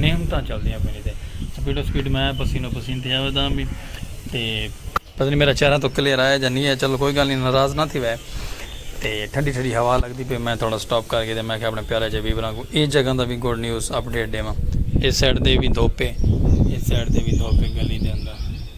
نعمتاں چلدیاں پین تے سپیڈ او سپیڈ میں پسینو پسین تھیا ودا ہم تے پتہ نہیں میرا چہرہ تو کلیئر آیا جا نہیں ہے چلو کوئی گل نہیں ناراض نہ تھی وے تے ٹھنڈی ٹھنڈی ہوا لگدی پی میں تھوڑا سٹاپ کر کے تے میں کہ اپنے پیارے جے ویوراں کو اے جگہ دا وی گڈ نیوز اپڈیٹ ڈیواں اس سائیڈ دے وی دھوپ ہے اس سائیڈ دے وی دھوپ ہے گلی دے اندر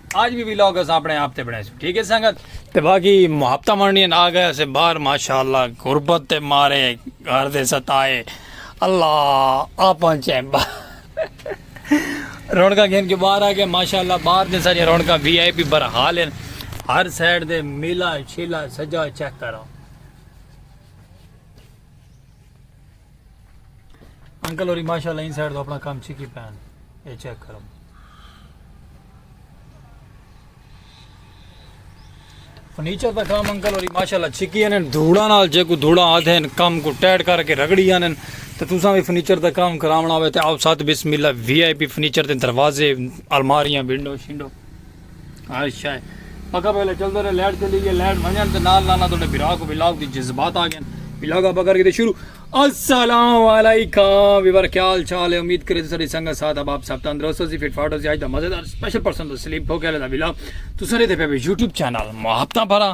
آج بھی ویلاگ اسا اپنے آپ تے بنائے سو ٹھیک ہے سنگت تے باقی محبتہ منڈی آ گئے سے باہر ماشاءاللہ غربت تے مارے گھر دے ستائے اللہ آ پہنچے رونکا گھن کے باہر آ گئے ماشاءاللہ باہر دے سارے رونکا وی آئی پی برحال ہیں ہر سائڈ دے میلا چھیلا سجا چیک کرو انکل ہوری ماشاءاللہ ان سائیڈ تو اپنا کام چھکی پین اے چیک کرو فرنیچر دا کام انکل ہوری ماشاءاللہ چھکی ہیں دھوڑا نال جے کو دھوڑا آدھے ہیں کام کو ٹیٹ کر کے رگڑی ہیں تو تساں بھی فرنیچر دا کام کراونا ہوئے تے آو ساتھ بسم اللہ وی آئی پی فرنیچر دے دروازے الماریاں ونڈو شنڈو اچھا پکا پہلے چلدے رہے لائٹ چلی گئی لائٹ ونجن تے نال نال تہاڈے بھرا کو ولاگ دی جذبات آ گئے ولاگ اپ کر کے شروع السلام علیکم ویور کیا حال چال ہے امید کرے ساری سنگت ساتھ اب آپ سب تندرست ہو سی فٹ فاٹ ہو سی اج دا مزیدار اسپیشل پرسن تو سلیپ ہو گیا دا ولاگ تو سارے تے پہ یوٹیوب چینل محبتاں بھرا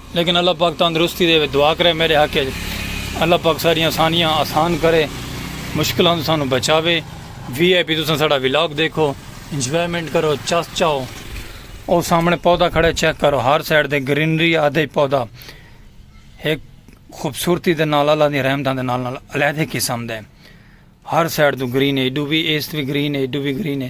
لیکن اللہ پاک تندرستی ڈیوے دعا کرے میڈے حق اچ اللہ پاک ساڈیاں آسانیاں آسان کرے مشکلاں توں سانوں بچاوے وی آئی پی تساں ساڈا ولاگ دیکھو انجوائمنٹ کرو چس چاؤ او سامنے پودا کھڑے چیک کرو ہر سائیڈ دے گرینری آدھے پودا ایک خوبصورتی دے نال اللہ دی رحمتاں دے نال نال علیحدہ قسم دے ہر سائیڈ تو گرین ہے ایڈو بھی ایست بھی گرین ہے ایڈو بھی گرین ہے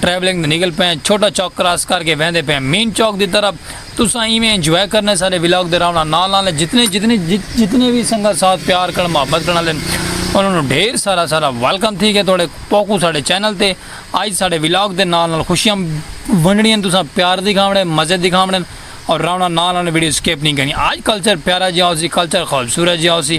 ٹریولنگ تے نکل پئے ہیں چھوٹا چوک کراس کر کے ویندے پئے ہیں مین چوک دی طرف تساں ایویں انجوائے کرنے سارے ولاگ دے راونا نال نال ہیں جتنے جتنے جتنے وی سنگت ساتھ پیار کرن محبت کرن والے انہاں نو ڈھیر سارا سارا ویلکم تھی گئے تھوڑے پوکو ساڈے چینل تے آج ساڈے ولاگ دے نال نال خوشیاں ونڈنی ہیں تساں پیار دکھاونے مزے دکھاونے اور راونا نال نال ویڈیو سکپ نہیں کرنی آج کلچر پیارا جی آسی کلچر خوبصورت جی آسی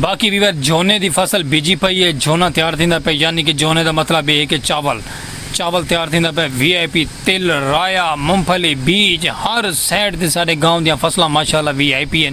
باقی بھی وقت جھونے دی فصل بیجی پئی ہے جھونا تیار تھیندا پہ یعنی کہ جھونے دا مطلب یہ ہے کہ چاول چاول تیار تھیندا پہ وی آئی پی تل رایا ممفلی بیج ہر سائڈ دے سارے گاؤں دیاں فصلاں ماشاءاللہ وی آئی پی ہیں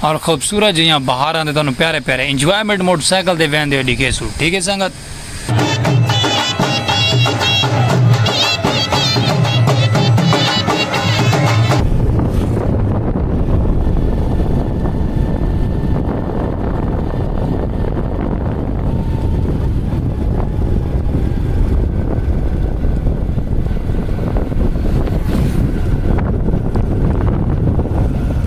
اور خوبصورت جیاں بہاراں دے تانوں پیارے پیارے انجوائمنٹ موٹر سائیکل دے ویندے ہوئے ڈیکھے سو ٹھیک ہے سنگت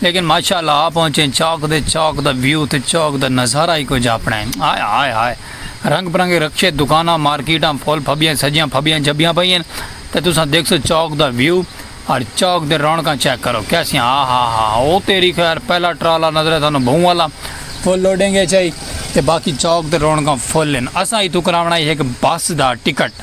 لیکن ماشاء اللہ آ پہنچیں چوک دے چوک دا ویو تے چوک دا نظارہ ہی کجھ اپنڑا ہے ہائے ہائے ہائے رنگ برنگے رکشے دکاناں مارکیٹاں پھل پھبیاں سجیاں پھبیاں جھبیاں پئی ہن تے تساں دیکھسو چوک دا ویو اور چوک دے رونقاں چیک کرو کیسیاں ہا ہا ہا او تیری خیر پہلا ٹرالا نظرے سانو بھوں والا فل لوڈنگ اچ آئی تے باقی چوک دے رونقاں فل ہن اساں ایتھوں کراونڑا ہی ہک بس دا ٹکٹ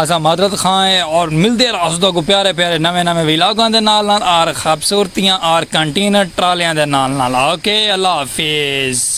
اساں معذرت خواہ ہیں اور ملدے ار اسدو کو پیارے پیارے نویں نویں ویلاگاں دے نال نال آر خبصورتیاں آر کنٹینر ٹرالیاں دے نال نال اوکے اللہ حافظ۔